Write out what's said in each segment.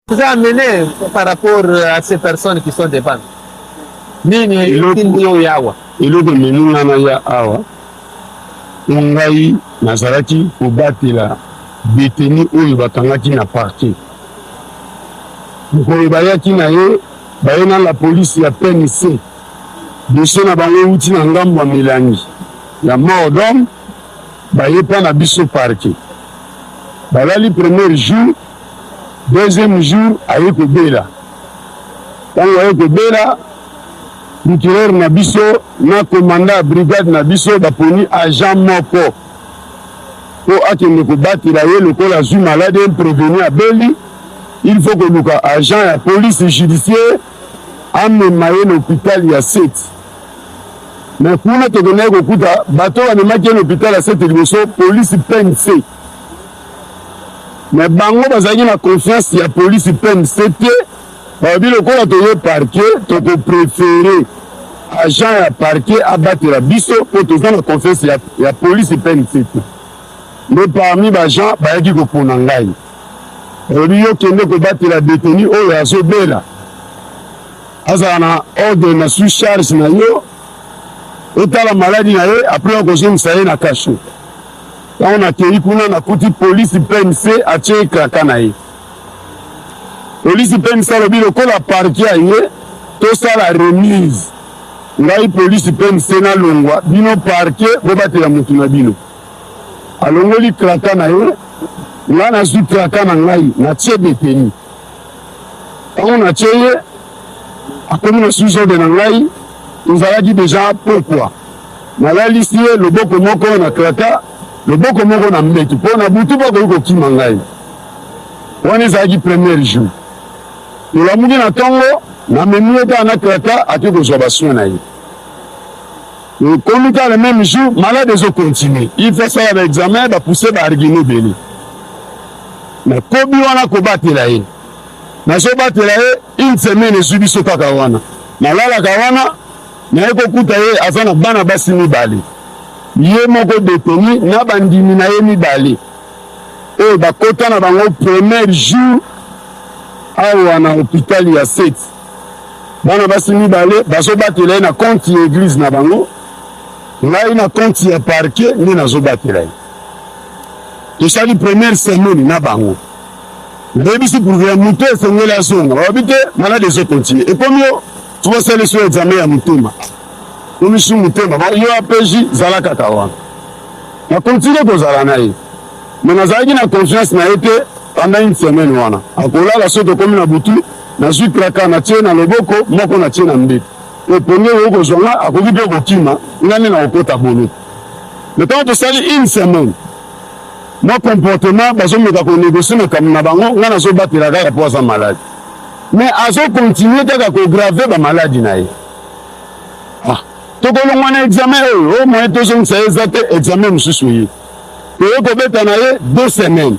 Vous amenez par rapport à ces personnes qui sont devant. Nini etindi yo ya awa? Eloko ememi nga na ya awa, mpo ngai nazalaki kobatela deteni oyo bakangaki na parquet. Mokolo bayaki na ye, baye na la police ya PNC, dossier na bango euti na ngambo ya milangi ya mort d'homme, baye mpa na biso parquet. Balali premier jour Deuxième jour aye kobela tango aye kobela procureur na biso na commandant ya brigade na biso baponi agent moko po akende kobatela ye lokola azwi malade un prevenu abeli il faut koluka agent ya police judiciaire amema ye na hopital ya seti me kuna tokendaki kokuta bato bamemaki ye na hopital ya seti liboso police pnc Mais bango bazalaki na confiance ya police PNC te, balobi lokola toye parquet toko prefere agent ya parquet abatela biso po toza na confiance ya, ya police PNC te. Nde parmi ba gens bayaki kopona ngai, balobi yo kende kobatela detenu oyo azobela, azala na ordre na sous charge na yo, otala maladi na ye apres okozongisa ye na cachot. Tango nakeyi kuna nakuti police PMC atie kraka na ye. Police PMC alobi lokola parquet aye tosala remise ngai police PMC nalongwa, bino parquet bobatela mutu na bino. Alongoli kraka na ye, ngai nazui kraka na ngai natie detenu. Tango na tie ye akomi na sous ordre na ngai, ezalaki deja pokwa. Nalalisi ye loboko moko na kraka, loboko moko na mbetu, mpo na butu mpe akoki kokima ngai. Wana ezalaki premier jour. Tolamuki na tongo, namemi ye kaka na kraka, ake kozwa ba soins na ye. Ekomi kaka le meme jour, malade ezo continuer, il faut asala ba examen, ba pousser ba arguments ebele. nakomi wana kobatela ye nazobatela ye une semaine ezwi biso kaka wana nalalaka wana naye kokuta ye aza na bana basi mibale ye moko deteni na bandimi na ye mibale oyo bakota na bango premier jour awa na hopitali ya seti bana basi mibale bazobatela ye na konti ya eglize na bango ngai na konti ya parke nde nazobatela ye tosali première semaine na bango bayebisi purvea moto esengeli azonga babi te malade ezo continue ekomi yo tobasali so examen ya motema komisi motema yo apeji zala kaka wana na continue kozala na ye me nazalaki na confiance na ye te banda une semaine wana akolala so tokomi na butu nazwi traka natie na loboko moko natie na mbeto epongi oyo kozwa nga akoki mpe kokima nga nde nakokota bolo na ntango tosali une semaine mwa comportement bazomeka konegocie makambo na bango ngai nazobatela kaka mpo aza maladi mais azokontinue kaka kograve bamaladi na ye ah, tokolongwa na examen oyo o oh, moye tozongisa ye eza te examen mosusu ye toye kobeta na ye deux semaines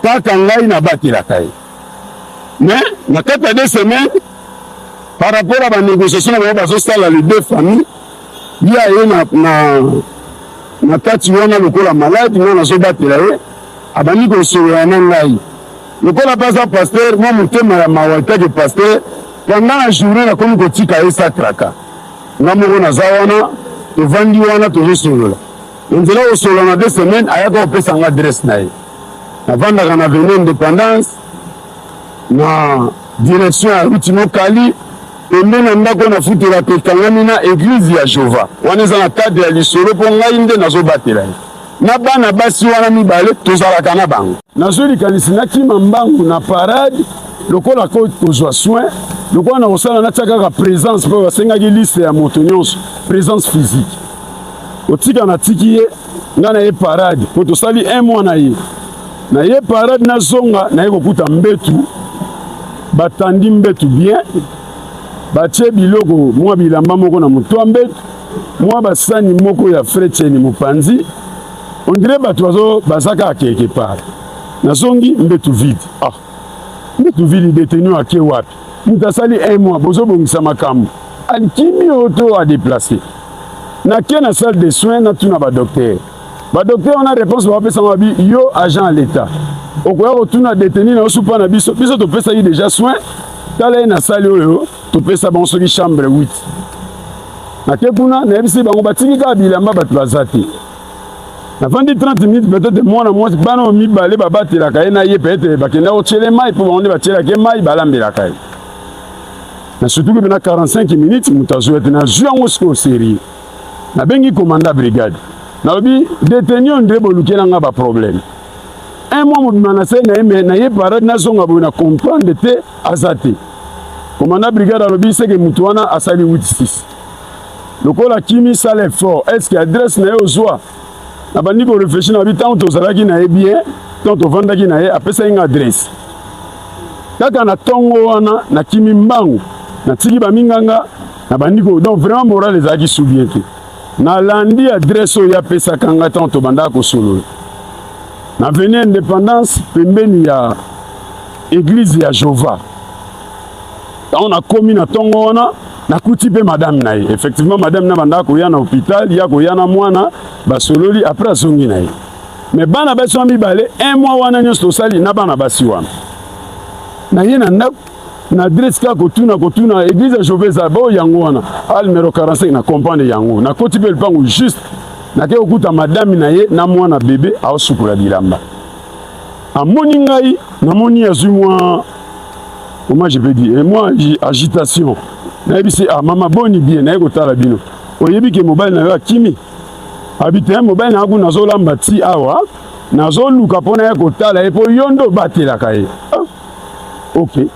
kaka ngai nabatelaka ye mais na kati ya deux semaines par rapport à banégociation na bango bazosala les deux famille ye aye na, na, na kati wana lokola maladi, nga nazobatela ye, abandi kosolola na ngai lokola baza pasteur, mwa motema ya mawa etake pasteur, pendant la journée nakomi kotika ye satraka, nga moko naza wana, tovandi wana tozosolola na nzela, kosolola na deux semaines ayaka kopesa nga adresse na ye, navandaka na avenue Independance. na direction ya route Nokali pembe na ndako na futela pe kangami na eglise ya Jova. Wana eza na cadre ya lisolo po ngai nde nazo batela ye. Na bana basi wana mibale tozalaka na bango. Nazui likanisi na kima mbangu na parade lokola ko kozwa soin lokola na kosala natia kaka presence po basengaki liste ya moto nyonso presence physique. Otika na tiki ye ngai na ye parade po tosali un mois na ye. Na ye parade na zonga na ye kokuta mbetu batandi mbetu bien batie biloko mwa bilamba moko na moto ya mbetu mwa basani moko ya fretieni mopanzi ondire bato bazo baza kaka quelque part nazongi mbetu vide ah mbetu vide detenu ake wapi moto asali un mois bozobongisa makambo akimi oto adeplace nake na salle de soins natuna badoktere Ba docteur wana réponse ba pesa mabi yo agent à l'état. Okoya ko tuna détenu na osupa na biso biso to pesa yi déjà soin tala ye na sali oyo to pesa bango soki chambre 8. Na te kuna na yebisi bango batiki ka bilamba bato baza te. Na vandi 30 minutes peut-être mwana mwasi bana mibale babatelaka ye na ye peut-être bakenda kotyele mai mpo bango nde batyelaka ye mai balambelaka ye. Na surtout ke bena 45 minutes moto azwete nazwi yango sikoyo serie nabengi komanda brigade nalobi deteni ondre bolukela nga baproblème un mois mobima na se na ye me na ye parade nazonga boye na comprendre te aza te komanda brigade alobi seke motu wana asali 86 lokola kimi sala effort est ce que adresse na ye ozwa nabandi koreflechi na bi ntango tozalaki na ye bien ntango tovandaki na ye apesaki nga adresse kaka na ntongo wana nakimi mbangu natiki baminganga nabandi ko donc vraiment morale ezalaki su bien te nalandi adresse oyo apesaka ngai ntango tobandaka kosolola na veni indépendance pembeni ya eglize ya jova ntango nakomi na ntongo wana nakuti mpe madame na ye effectivement madame na bandaka koya na hôpital ya koya na mwana basololi après azongi na ye mais bana basi wana mibale un mois wana nyonso tosali na bana basi wana naye na ndako na adresse kaka kotuna kotuna eglise ya jove eza bao yango wana al numero 45 na comprendre yango nakoti mpe lupango juste nake kokuta madame na ye na mwana bebe aosukola bilamba amoni ngai namoni azwi mwa comment je peux dire mwa agitation nayebisi ah mama boni bien naye kotala bino oyebi ke mobali na yo akimi abi te mobali na yo kuna nazolamba ti awa nazoluka mpo na ye kotala ye mpo yo nde obatelaka ye ok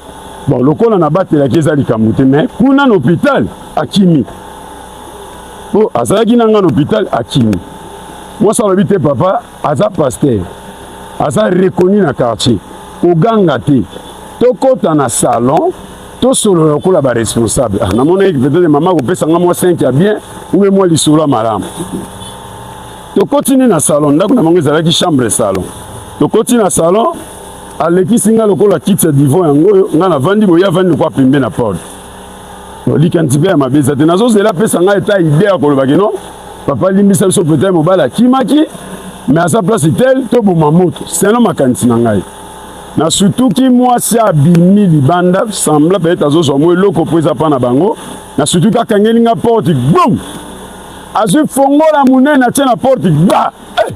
bon lokola nabatelaki eza likambo te mais kuna na hôpital akimi po azalaki na nga na hôpital akimi mwasi alobi te papa aza paster aza reconnu na quartier koganga te tokɔta na salon tosolola lokola baresponsable ah, namonaki peut-être mama akopesa nga mwa 5 ya bien ube mwa lisolo ya malamu tokoti nde na salon ndako na bango ezalaki chambre salon tokoti na salon alekisi nga lokola kiti ya divan yango oyo nga navandi boye avandi lokola pembe na porte likanisi mpe ya mabe eza te nazozela apesa ngai eta ide ya kolobaki no papa limbisa biso peta mobali akimaki me aza place tel toboma moto seno makanisi na ngai nasutuki mwasi abimi libanda sembla peut-être azozwa mwa eloko mpo eza mpa na bango nasutuki akangeli nga porte bum azwi fongola monene atie na porte ba eh,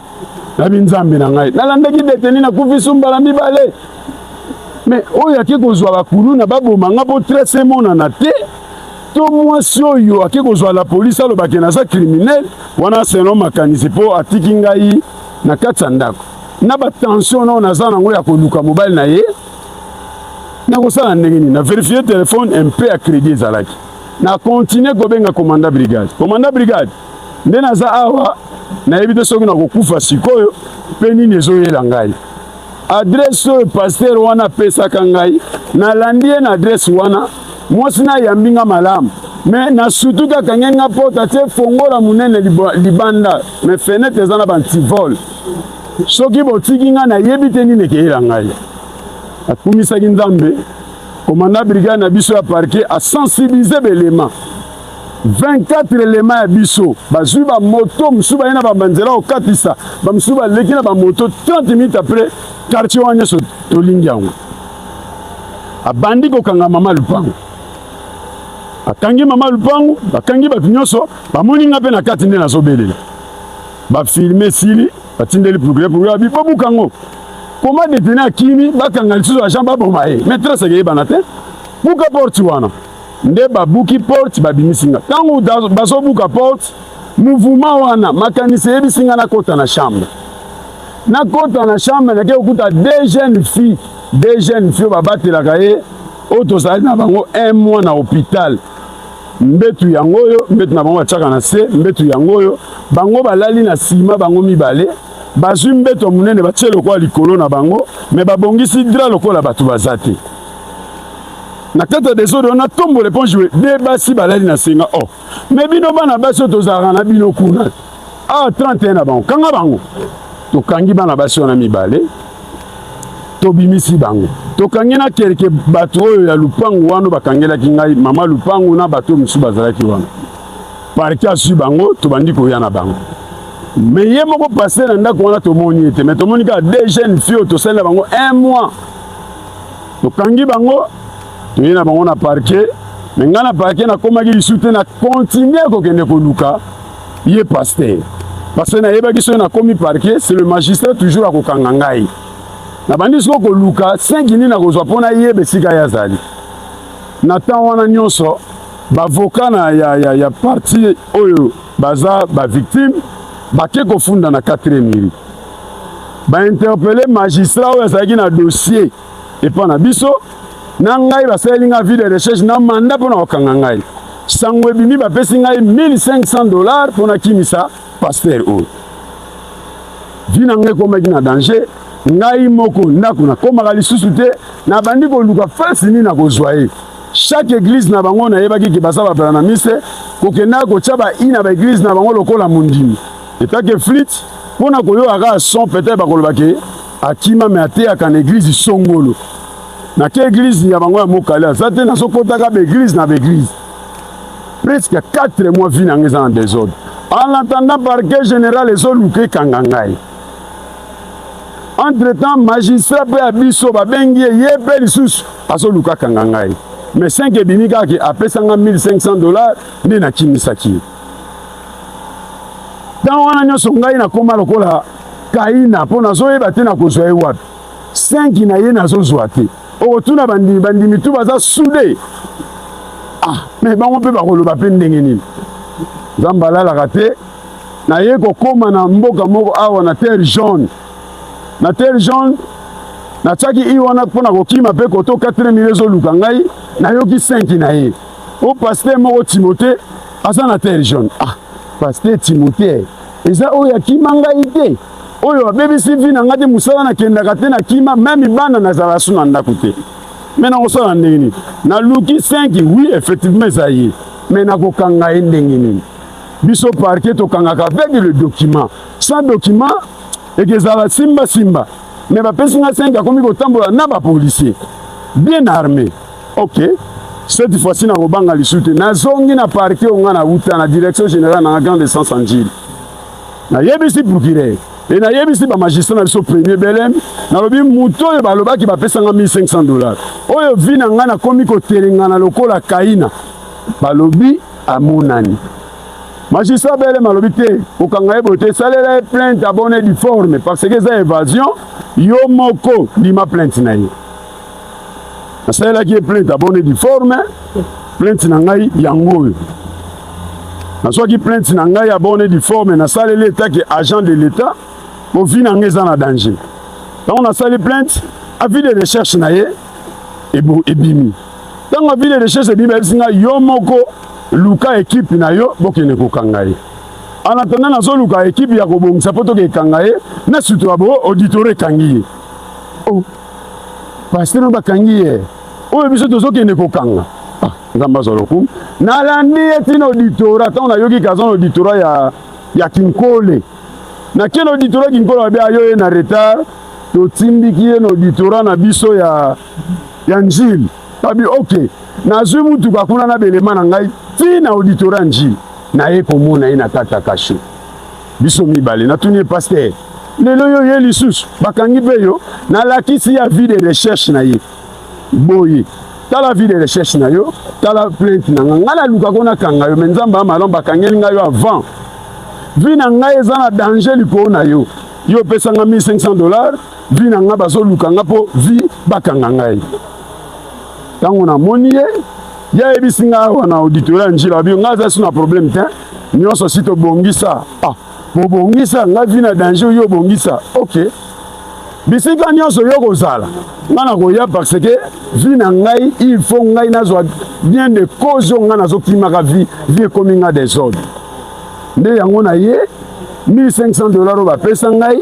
nabi nzambe na ngai nalandaki deteni na kufi sumbala mibale me oyo ake kozwa bakuluna baboma nga mpo tres emonana te to mwasi oyo ake kozwa la polisi alobake naza criminel wana selo makanisi mpo atiki ngai na kati ya ndako na batension nao naza nango ya koluka mobali na ye nakosala ndenge nini na verifie telefone mpe ya credit ezalaki na continue kobenga commanda brigade commanda brigade nde naza awa nayebi te soki nakokufa sikoyo mpe nini ezoyela ngai adrese oyo paster wana apesaka ngai nalandi ye na adrese wana mwasi nayambi nga malamu me nasutuki akangi nga porte atie fongola monene libanda me fenetre eza na bantivole soki botiki nga nayebi te nini ekeyela ngai akumisaki nzambe komanda brigade na biso ya parke asensibilize belema 24 elema ya biso bazwi bamoto mosusu baye na bamanzela kokatisa bamosusu baleki na bamoto 30 minutes après quartier wana nyonso tolingi yango abandi kokanga mama lupango akangi mama lupango bakangi bato nyonso bamoni nga mpe na kati nde nazobelela bafilme esili batindeli progre progre abi bobuka yango koma detene akimi bakanga lisusu agent baboma ye maîtresse ekeyebana te buka porte wana nde babuki porte babimisi nga ntango bazobuka porte mouvuma wana makanisi eyebisi nga nakota na chambre nakota na chambre nake kokuta deux jeunes filles deux jeunes filles babatelaka ye oyo tozali na bango un mois na hôpital mbetu yango oyo mbetu na bango batiaka na se mbetu yango oyo bango balali na nsima bango mibale bazwi mbeto monene batie lokola likolo na bango me babongisi dra lokola bato baza te na kati ya desordre wana tombola eponge we de basi balali na senga o oh. me bino bana basi oyo tozalaka na bino kuna a ah, 31 na bango kanga bango tokangi bana basi wana mibale tobimisi bango tokangi na kelke bato oyo ya lupangu wana bakangelaki ngai mama lupangu na bato mosusu bazalaki wana parke asui bango tobandi koya na bango me ye moko paster na ndako wana tomoni ete me tomoni kaka de jeune fille oyo tosalela bango un mois tokangi bango toye na bango na parquet me ngai na parquet nakomaki lisusu te na continue kokende koluka ye pasteur parce que nayebaki soki nakomi parquet c'est le magistrat toujours akokanga ngai nabandi siko koluka senki nini nakozwa mpo nayeba esika ye azali na temps wana nyonso bavoka na ya, ya, ya parti oyo baza bavictime bake kofunda na 4 miri ba interpelle magistrat oyo azalaki na dossier epa na biso na ngai basaleli ngai vie de recherche na manda mpo na kokanga ngai sango ebimi bapesi ngai 1500 dollars mpo nakimisa paster oyo vi na ngai ekomaki na danger ngai moko ndako nakomaka lisusu te nabandi koluka fasi nini nakozwa ye chaque église na bango nayebaki ke baza bapela na mise kokendaka kotya bai na baeglise na bango lokola mondimi etake flite Mpo na koyoka kaka son peut-être bakoloba ke akima me ateyaka na eglize songolo na ke eglize ya bango ya mokali aza te nazokotaka baeglize na baeglize presque 4 mois vi na ngai eza na desordre en attendant parquet général ezoluka ekanga ngai entre temps magistrat mpe ya biso babengi ye ye mpe lisusu azoluka kanga ngai mais 5 ebimi kaka ke apesa ngai 1500 dollars nde nakimisaki ye ntango wana nyonso ngai nakoma lokola kaina mpo nazoyeba te nakozwa ye wapi senki na ye nazozwa te okotuna bandimi bandimi tu baza sude ah me bango mpe bakoloba mpe ndenge nini nzambe alalaka te naye kokóma na mboka moko awa na terre jaune na terre jaune natiaki i wana mpo na kokima mpe koto 4 mile ezoluka ngai nayoki senki na ye o pasteur moko timote aza na terre jaune ah pasteur timote eza oyo akima ngai te oyo abebisi vi na ngai te mosala nakendaka te nakima meme bana nazala su na ndako te me nakosala ndenge nini naluki 5 oui effectivement eza ye me nakokanga ye ndenge nini biso parke tokangaka avec le document sans document ekezala simbasimba me bapesi ngai 5 akomi kotambola na bapolisier bien armé ok cette fois ci nakobanga lisusu te nazongi na parti oyo ngai nauta na direction générale na grande essence ya njili nayebisi procureur e nayebisi bamagistrat na biso premier belem nalobi moto oyo balobaki bapesanga 1500 dollars oyo vi na ngai nakomi kotelengana lokola kaina balobi amonani magistrat belem alobi te kokanga ye boye te esalela ye plainte abone diforme parce que eza évasion yo moko ndima plainte na ye nasalelaki ye plainte abone diforme plainte na ngai yango oyo nazwaki plainte na ngai abone diforme nasaleli etake agent de l'etat mpo vi na ngai eza na danger ntango nasali plainte avis de recherche na ye ebimi ntango avis de recherche ebimi bayebisi ngai yo moko luka ekipe na yo bokende kokanga ye en attendant nazoluka ekipe ya kobongisa mpo tokekanga ye na sutu ya bo auditore ekangi ye oh. pasteur no bakangi ye oyo biso tozokende kokanga ah, nzambe azwa lokumu nalandi ye ntina auditora ntango nayoki kaza na auditora ya, ya kinkole nakende auditora kinkole babe ayo ye na retard totindiki ye na auditora na biso ya, ya njili babi ok nazwi motuka kuna na belema na ngai ntina auditora ya njili naye komona ye na kata kasho biso mibale natuni ye pasteur lelo yo ye lisusu bakangi mpe yo nalakisi ya vie de recherche na ye boye tala vie de recherche na yo tala plainte na nga ngai naluka ko nakanga yo me nzambe amalon bakangeli ngai yo avant vie na ngai eza na danger likolo na yo yo opesa nga 1500 dollar vie na ngai bazoluka nga mpo vie bakanga ngai ntango namoni ye ye ayebisi ngai awa na auditoria njila babi ngai aza si na problème te nyonso si tobongisa ah, bobongisa ngai vi na danger yo obongisa ok bisika nyonso yo kozala ngai nakoya parce que vi na ngai il faut ngai nazwa bien de cause oyo ngai nazokimaka vi vi ekomi ngai desordre nde yango na ye 1500 dollar oyo bapesa ngai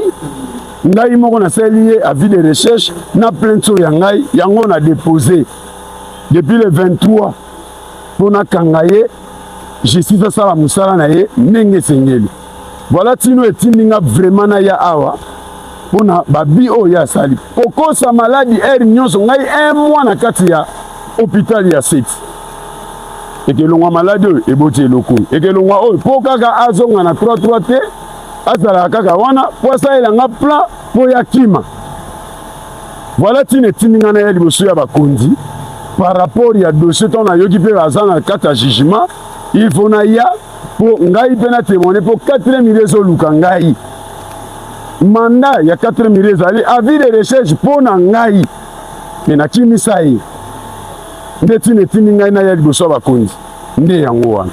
ngai moko nasaleli ye avis de recherche na plainte oyo ya ngai yango na depose depuis le 23 mpo nakanga ye justice asala mosala na ye ndenge esengeli voilà tino etindi nga vraiment naya awa mpo na babi oyo ye asali kokosa maladi aire nyonso ngai un mois na kati ya hôpital ya seti ekelongwa maladi oyo eboti eloko oyo ekelongwa oyo mpo kaka azonga na 33 te azalaka kaka wana mpo asalela nga plan mpo ya kima Voilà tina etindi ngai naya liboso ya bakonzi par rapport ya dossier ntango nayoki mpe baza na kati ya jugement il faut naya mpo ngai mpe na témoigne mpo 4 mille ezoluka ngai manda ya 4 mille ezali avis de recherche mpo na ngai me nakimisa ye nde ntina etindi ngai naya liboso ya bakonzi nde yango wana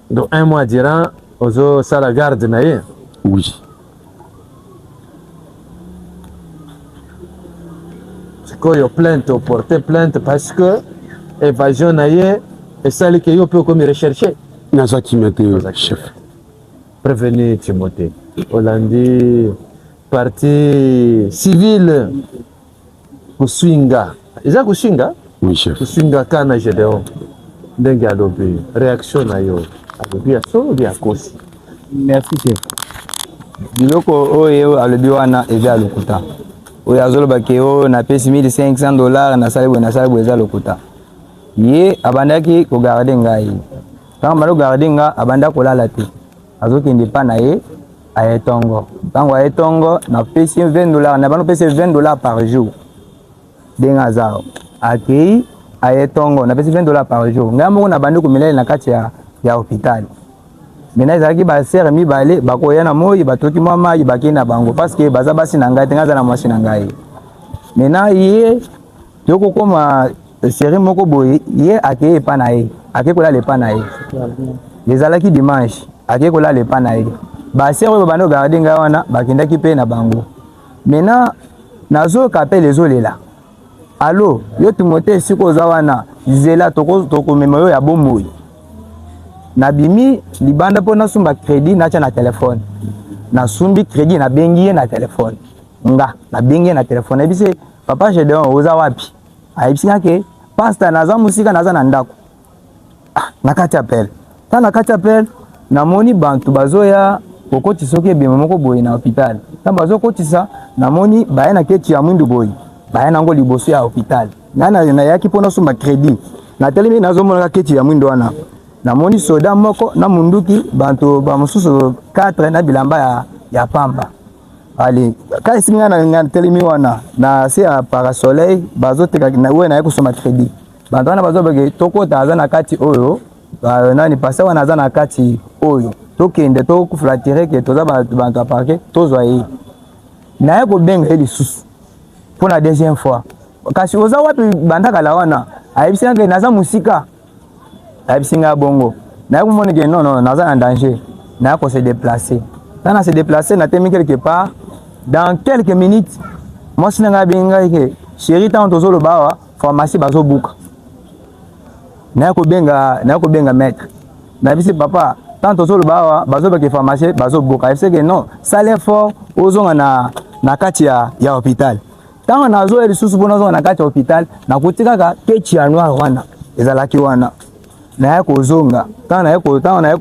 Donc un mois durant ozo sala garde na ye? Oui. Sikoyo plainte o porte plainte parce que evasion na ye esali ke yo mpe okomi recherche? Naza kimia te chef. Prevenu Timothée olandi partie civile koswinga eza koswinga oui, chef. koswinga ka na gedeon ndenge alobi réaction na yo alobi ya solo bi akosi merci chef biloko oyo alobi wana eza ya lokuta oyo azoloba ke oyo oh, napesi 1500 dollars nasali boye nasali boye eza lokuta ye abandaki kogarde ngai ntango banda kogarde nga abanda kolala te azokende epa na ye aye tongo ntango aye tongo napesi ye 20 dollar na bano pesi ye 20 dollar par jour ndenge aza akei aye tongo napesi 20 dollar par jour ngai moko nabandi komela ye na kati ya, ya hôpital mena ezalaki basere mibale bakoya na moi batoki mwa mai bakei na bango parceke baza basi na ngai te ngai aza na mwasi na ngai mena ye yo kokoma serie moko boye ye akei epa na ye akei kolala epa na ye ezalaki dimanche akei kolala epa na ye basere oyo babanda kogarde ngai wana bakendaki mpe na bango maintenant nazoyoka apele ezolela alo yo timote esika oza wana zela tokomema yo ya bomoi nabimi libanda mpo nasumba kredi natya na telefone nasumbi kredi nabengi ye na telefone nga nabengi ye na telefone nayebisi Papa Gedeon oza wapi? Ayebisi nga ke pasta naza musika naza na ndako. Ah, na kati appel. Ta na kati appel namoni bantu bazoya kokotisa soki ebembe moko boye na hopital. Ta bazokotisa namoni baya na keti ya mwindu boye. Baya nango liboso ya hopital. Nga na nayaki mpo nasomba credit. Natelemi nazomonaka keti ya mwindu wana. Namoni soda moko na munduki bantu bamosusu 4 na bilamba ya, ya pamba. ale kasi nga na nga telemi wana na se ya parasoleil bazoteka na oyo naye kosoma credit bato wana bazobeke tokota aza na kati oyo nani pase wana aza na kati oyo tokende toflatire ke toza bato ya parke tozwa ye naye kobenga ye lisusu mpo na deuxième fois kasi oza wapi bandakala wana ayebisi yanke naza mosika ayebisi ngai bongo naye komoni ke non non naza na danger naye ko se déplacer ntango na se déplacer natemi quelque part dans quelques minutes mwasi na ngai abengi ngai ke chéri ntango tozoloba awa pharmacie bazobuka naye kobenga naye kobenga maître nayebisi papa ntango tozoloba awa bazobake pharmacie bazobuka ayebisi ke non sale effort ozonga na, na kati ya, ya hôpital ntango nazoya lisusu mpo nazonga na kati ya hôpital nakuti kaka kechi ya noir wana ezalaki wana naye kozonga ntango naye ntango naye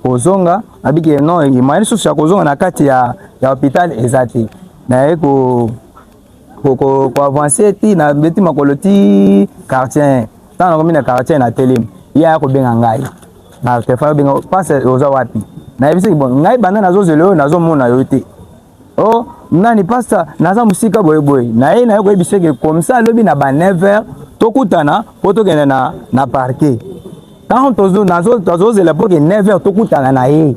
kozonga nabiki ye non moyen lisusu ya kozonga na kati ya ya hôpital eza te naye ko koavance ti na beti makolo ti quartier ntango nakomi na quartier na telemi ye aya kobenga ngai na telefone obenga pasi oza wapi nayebisaki bon ngai banda nazozela oyo nazomona yo te oh nani pasta naza mosika boyeboye na ye na ye koyebisa eke comme ça alobi na ba 9 heures tokutana mpo tokende na, na parke ntango tozozela mpo ke 9 heures tokutana na ye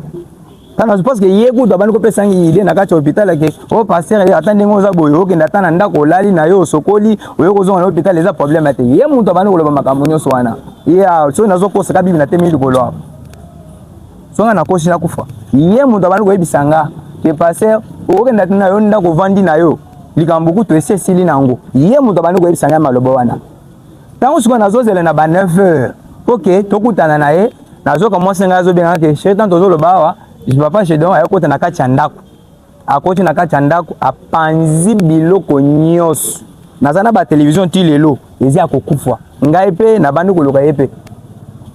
tana parce que ye kutu abandi kopesa ngi ide na kati ya hôpital ake o oh, pasteur ata ndenge oza boye okende ata na ndako olali na yo osokoli oye kozonga na hôpital eza problème te ye moto abandi koloba makambo nyonso wana ye soki nazokosaka bibi na temi likolo awa songa nakosi nakufa ye moto abandi koyebisa nga ke paster okokenda na yo ndako ovandi na yo likambo kutu esi esili na yango ye moto abandi koyebisa ngai maloba wana ntango sikoyo nazozela na ba 9 heures mpo ke tokutana na ye nazoka mwasi ngai azobengaka ke chetan tozoloba awa papa chedon ayokota na kati ya ndako akoti na kati ya ndako apanzi biloko nyonso naza na batelevizio ti lelo eza ya kokufwa ngai mpe nabandi koloka ye mpe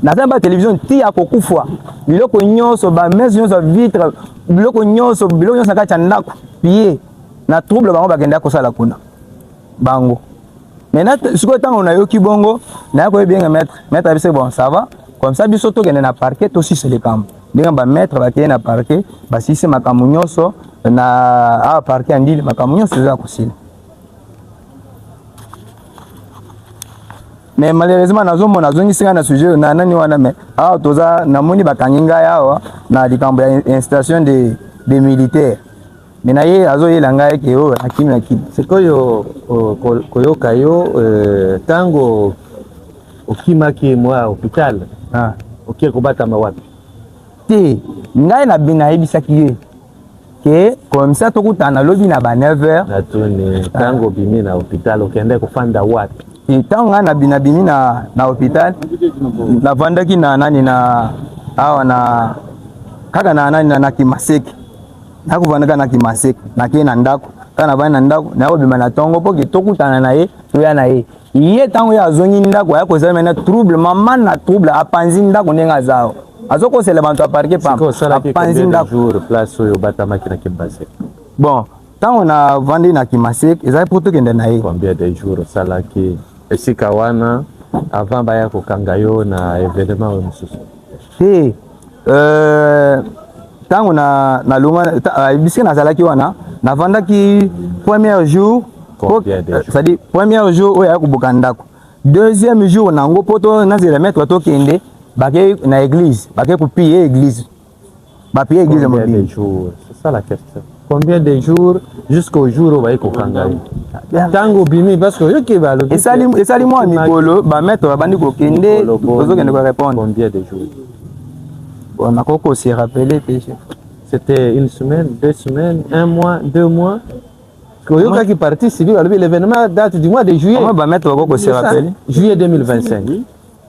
naza na batelevizio ti ya kokufwa biloko nyonso bamese nyonso vitre biloko nyonso biloko nyonso na kati ya ndako piye na trouble bango bakendaki kosala kuna bango maintenant sikoyo ntango nayoki bongo naye koyebi yenge maître maître abise bon ça va comme ça biso tokende na parquet tosisa likambo ndenge ba maître bakei na parquet basilisi makambo nyonso na awa parquet ya ndili makambo nyonso eza kosila mais malheureusement nazomona azongisi ngai na sujet na nani wana mais awa toza namoni bakangi ngai awa na likambo ya instation de, de militaire me na ye azoyela ngai ke oyo na kimi na kimi sikoyo koyoka yo ntango euh, okimaki mwa hopital ah. okie kobatama wapi te ngai na bino nayebisaki ye ke komisa tokutana lobi na ba 9 heures natuni ntango obimi na hopital okende kofanda wapi ntango ngai nabimi na, bimi na, na hopital navandaki na nani na awa na kaka na nani na, na kimaseke nakovanda kaka na kimaseke nakei na ndako kaka navandi na ndako nakobima na tongo mpo ke tokutana na ye toya na ye ye ntango ye azongi ndako aya kozala mena trouble mama na trouble apanzi ndako ndenge aza azokosela bato aparke papanzi ndako bon ntango navandi na kimaseke ezali mpo tokende na ye esika wana avant baya kokanga yo na evenement oyo mosusu te euh, ntango na nalonga euh, bisika nazalaki wana navandaki premier jour cestadire euh, premier jour oyo aya koboka ndako deuxième jour na yango mpo nazela maître tokende bake na église bake kopiye église ba paye eglise mobimba combien de jours c'est ça la question combien de jours jusqu'au jour oyo baye kokanga ye ntango obimi parce que oyoki balobi esali esali mwa mikolo ba maître babandi kokende ozokende ko répondre combien de jours bon nakoki ko se rappeler te chef c'était une semaine deux semaines un mois deux mois oyokaki parti civil alobi l'événement date du mois de juillet ba maître bakoki ko se rappeler juillet 2025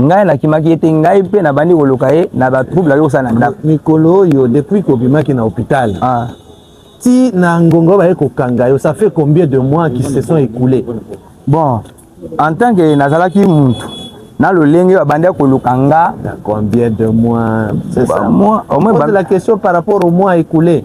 ngai nakimaki ye te ngai mpe nabandi koluka ye na batrouble ayo kosala na ndako mikolo oyo depuis kobimaki na hôpital ah. ti na ngongo baye kokanga yo ça fait combien de mois qui se sont écoulés bon en tant que nazalaki muntu na lolenge babandi ya koluka nga combien de mois c'est ça moi, au moins, la question par rapport au mois écoulé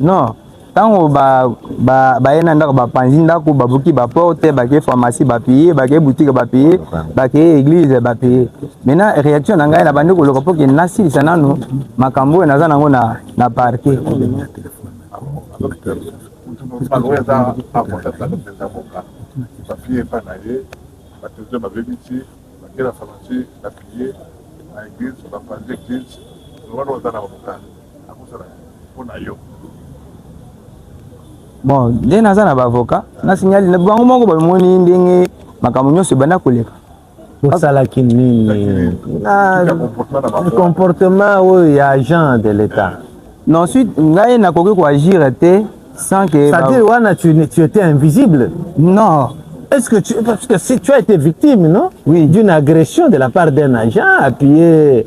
non ntango baye ba, ba na ndako bapanzi ndako babuki baporte bake pharmacie bapaye bake butike bapaye bakeye eglise bapaye maintenant réaction na ngai nabandi koloka mpo ke nasilisa nano makambo oyo naza nango na, na parke bapiye epai na ye batelevizio babebisi bakela pharmacie bapiye na eglise bapanzi eglise wana oza na bamokano bon nde naza na baavocat na signali na bango moko bamoni ndenge makambo nyonso ebanda koleka osalaki nini na comportement oyo ya agent de l'état na ensuite ngai nakoki koagire te sans que c'est-à-dire ba... wana tu, tu étais invisible non est-ce que tu parce que si tu as été victime non oui d'une agression de la part d'un agent appuyé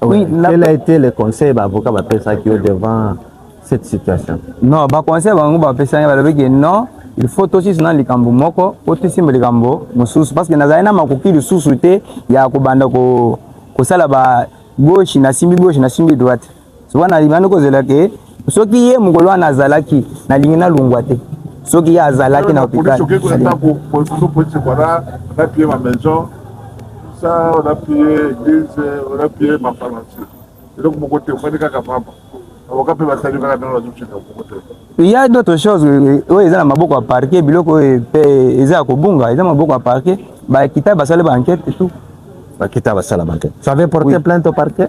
Oui, la... Quel a été le conseil ba avocat ba pesa qui devant cette situation? Non, ba conseil bango ba pesa nga balobi que non, il faut tosisi na likambo moko po tosimba likambo mosusu parce que nazali na makoki lisusu te ya kobanda ko kosala ba gauche nasimbi gauche nasimbi droite soki na libandi kozela ke soki ye mokolo wana azalaki nalingi nalongwa te soki ye azalaki na hôpital ça on a pillé église on a pillé ma pharmacie eloko moko te ofandi kaka pamba avoka mpe basali kaka ndenge bazokende moko te il y a d'autres choses euh, oyo eza na maboko ya parquet biloko oyo mpe eza ya kobunga eza maboko ya parquet bakita basali ba enquête et tout bakita basala ba enquête ça avait porté oui. plainte au parquet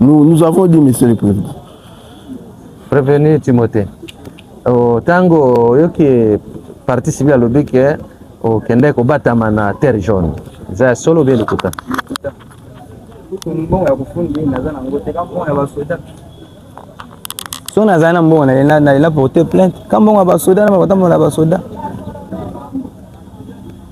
Nous, nous avons dit, Monsieur le Président. Prévenu Timothée, au tango, yo qui est parti civil à l'objet que au Québec, au Batamana, terre jaune. C'est solo bien le coup. so nazali na mbongo nalela porte plainte ka mbongo ya basoda na bakotambola na basoda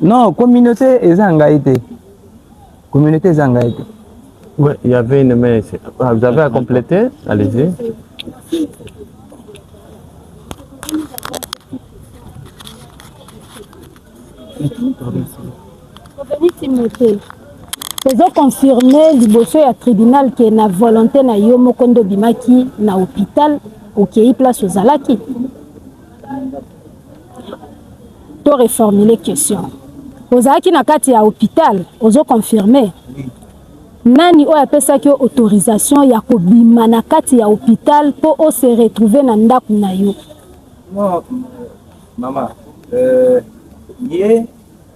Non, communauté eza ngai te. Communauté eza ngai te. Oui, il y avait une main ici. Ah, vous avez à compléter Allez-y. Oveni Timothée, tozo confirme liboso ya tribunal ke na volonté na yo moko nde obimaki na hôpital okei place ozalaki to reformuler question ozalaki na kati ya hôpital ozo confirmer nani oyo apesaki yo autorisation ya kobima na kati ya hôpital mpo o se retrouver na ndako na yo non mama euh, ye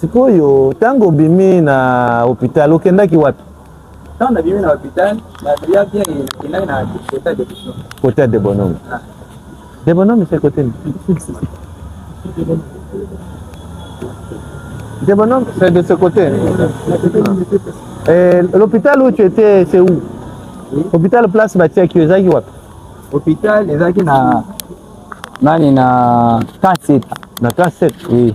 Sikoyo tango obimi na hopital okendaki wapi? Tango nabimi na hopital nabiyaki nakendaki na kota de Bonome. Kota de Bonome. Ah. De Bonome c'est côté nini? De Bonome c'est de ce côté. Euh, l'hôpital où tu étais c'est où? Oui. Hôpital place batiaki ezalaki wapi? Hôpital ezalaki na nani na Kaseta. Na Kaseta. Oui.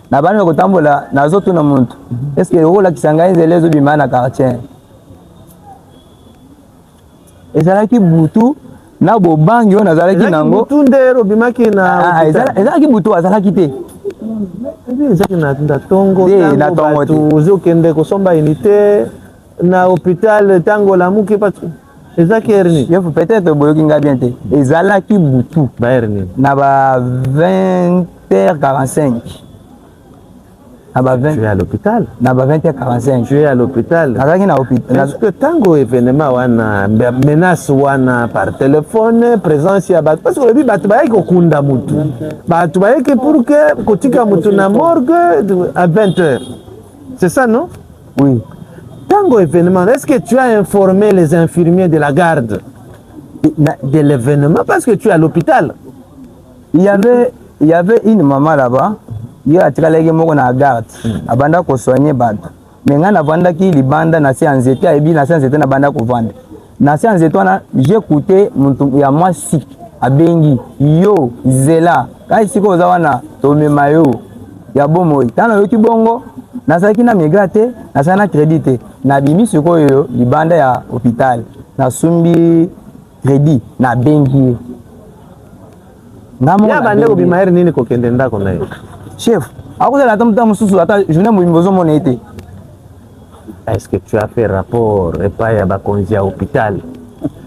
na bana kotambola nazotuna muntu eske okolakisa ngai nzela ezobima na quartier ezalaki butu na bobangi oyo nazalaki nango ah, ah, ezalaki butu azalaki te ezalaki na tongo ozokende kosomba inite na hopital tango olamuki patu ezalaki heure nini yo peut-être boyoki ngai bien te ezalaki butu ba heure nini na ba 20 heures 45 na ba 20 tu es à l'hôpital na ba 20 heures 45 tu es à l'hôpital nazalaki na hôpital parce que tango événement wana menace wana par téléphone présence ya bato parce que olobi bato bayaki kokunda motu bato bayaki pour que kotika motu na morgue à 20 heures c'est ça non Oui. Tango événement, est-ce que tu as informé les infirmiers de la garde de l'événement parce que tu es à l'hôpital? Il y avait il y avait une maman là-bas, ye atikalaki moko na garde, hmm. abanda ko soigner bato. Mais ngai navandaki libanda na se ya nzete, ayebi na se ya nzete nabanda kovanda. na se ya nzete wana j'ecoute motu ya mwasi abengi yo zela kai sika oza wana tomema yo ya bomoi ntango nayoki bongo nazalaki na migra te nazalaki na credit te nabimi sikoyo libanda ya hôpital nasumbi credit nabengi ye ngamobande kobima here nini kokende ndako na ye chef akozala ata mosusu ata journée mobimba ozomona ye te Est-ce que tu as fait rapport epai ya bakonzi ya hôpital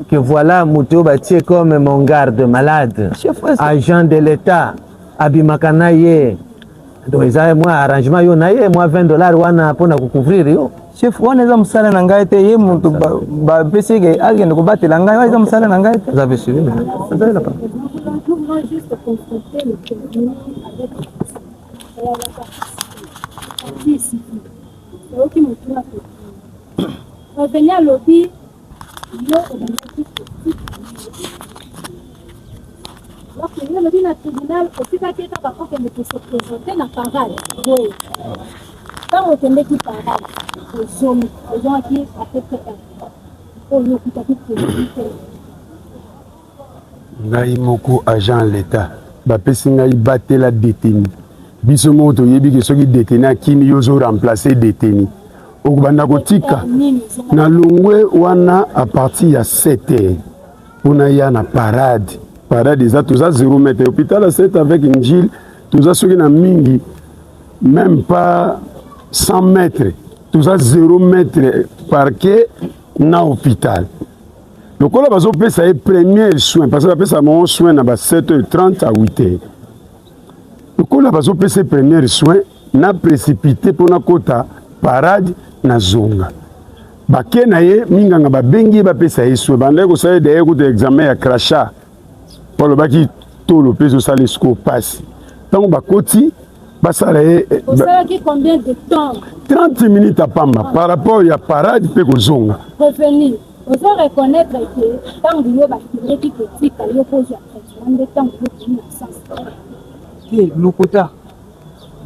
que voilà moto oyo batie comme mon garde malade agent de l'État abimaka na ye donc eza mwa arrangement yo na ye mwa 20 dollars wana mpo na kocouvrir yo chef wana eza mosala na ngai te ye moto bapesi eke akende kobatela ngai wana eza mosala na ngai te oza mpe suivi Oyoki motuna ko. Paveni alobi yo obandaki bakende alobi na tribunal otikaki ete bakokende kosepresente na parade boye ntango okendeki parade ozomi ozongaki apepr oyo okutaki tribunal te Ngai moko agent ya l'etat bapesi ngai batela detenu biso moko toyebi ke soki detenu akimi yo ozo remplacer detenu okobanda kotika na longwe wana a partir ya 7 heures mpona ya na parade parade eza toza 0 mètre hôpital ya 7 avec njil toza soki na mingi même pas 100 mètres toza 0 mètre parquet na hôpital lokola bazopesa ye premier soin parce que bapesa bango soin na ba 7h30 à 8h lokola bazopesa ye premier soin na précipité mpo nakota parade na zonga bake na ye minganga babengi ye bapesa ye soin bandaki kosala ye daye kuta examen ya crachat mpo alobaki tolo mpe ezosala esiko mpasi ntango bakoti basala ye 30 minutes apamba par rapport ya parade mpe kozonga Ozo reconnaitre que tangu yo ba fingaki ko tika yo po ozua traitement nde tangu yo okomi na sens te? te lokuta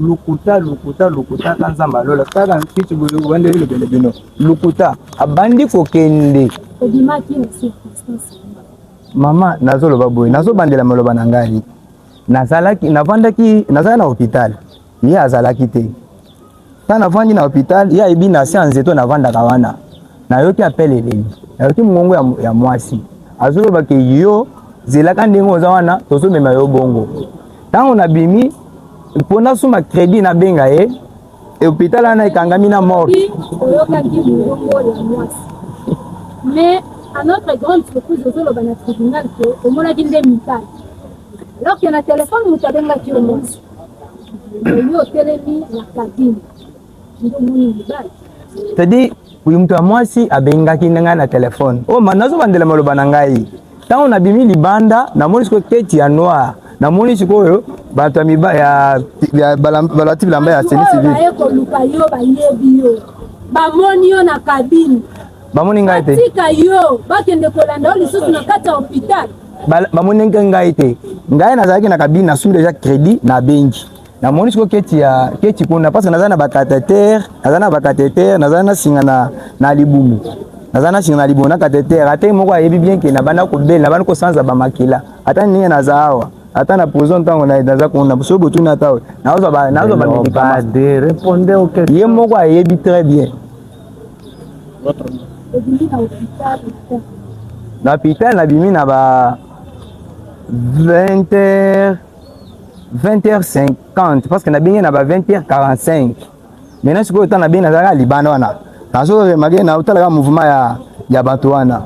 lokuta lokuta lokuta ka nzambe alola kaka mfiti bandeli lobele bino lokuta abandi kokende mama nazoloba boye nazobandela maloba na ngai nazalaki navandaki nazalaki na hôpital ye azalaki te Nga navandi na hopital, ye ayebi na se ya nzete oyo navandaka wana. Nayoki appel eleli, nayoki mongongo ya, ya mwasi azoloba ke yo zelaka ndenge oza wana, tozomema yo bongo. Ntango nabimi mpo nasuma credit, nabenga ye hopital wana ekangami na morgue. Oyokaki mongongo ya mwasi mais à notre grande surprise ozoloba na tribunal ke omonaki nde mibali alors que na telefone moto abengaki yo mwasi cetadi oyo moto ya mwasi abengaki nde ngai na telefone o oh, ma nazobandela maloba na ngai ntango nabimi libanda namoni sikoyo keti ya noir namoni sikoyo bato ya balati bilamba ya semi civil bamoni yo na kabine bamoni ngai te tika yo bakende kolanda yo lisusu na kati ya hopital bamoni nke ngai te ngai nazalaki na kabine nasumi deja crédit na bengi namoni siko keti ya keti kuna parce que naza na bakatetere naza na bakatetere naza na singa na, na libumu naza na singa na libumu na katetere ata moko ayebi bien ke nabanda kobela nabandi kosanza bamakila ata ndenge naza awa ata na prison ntango naza kuna so botuni ata nazwa bamedikama ye moko ayebi très bien na hôpital nabimi na ba 20 heures 20 heures 50 parce que nabenge na ba 20 heures 45 maintenant sikoyo ntango nabenge nazalaka libanda wana nazo remake na otalaka mouvement ya, ya bato wana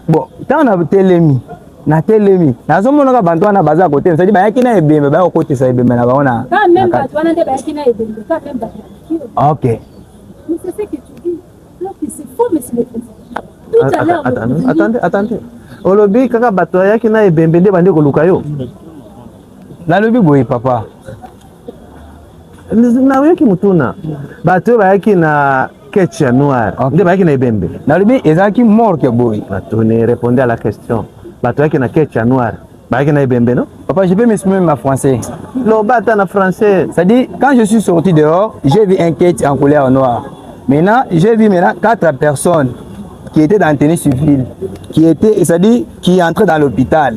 bon ntango na telemi na telemi nazomonaka bantu wana baza kotelema sadi bayaki na ebembe baya kokotisa ebembe na bango na ok attendez olobi kaka bato ayaki na ebembe nde bande koluka yo nalobi boye papa nayoki motuna bato oyo bayaki na ketch ya noir okay. nde bayaki na ebembe nalobi ezalaki morke boye batuni reponde à la question bato yaki na ketch ya noir bayaki na ebembe no papa je peux m'exprimer ma français loba ata na français c'est à dire quand je suis sorti dehors j'ai vu un ketch en couleur noire maintenant j'ai vu maintenant quatre personnes qui étaient dans tenue civile qui étaient c'est à dire qui entraient dans l'hôpital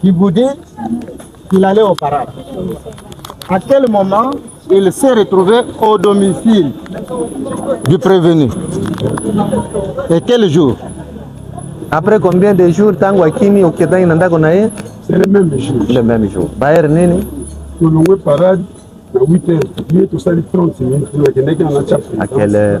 qui vous dit qu'il allait au parade. À quel moment il s'est retrouvé au domicile du prévenu Et quel jour Après combien de jours tango akimi oketani na ndako na ye C'est le même jour. Le même jour. Bayer nini Tolongwe parade na 8h, ye tosali 30 minutes, tokendeki na na chapel. À quelle heure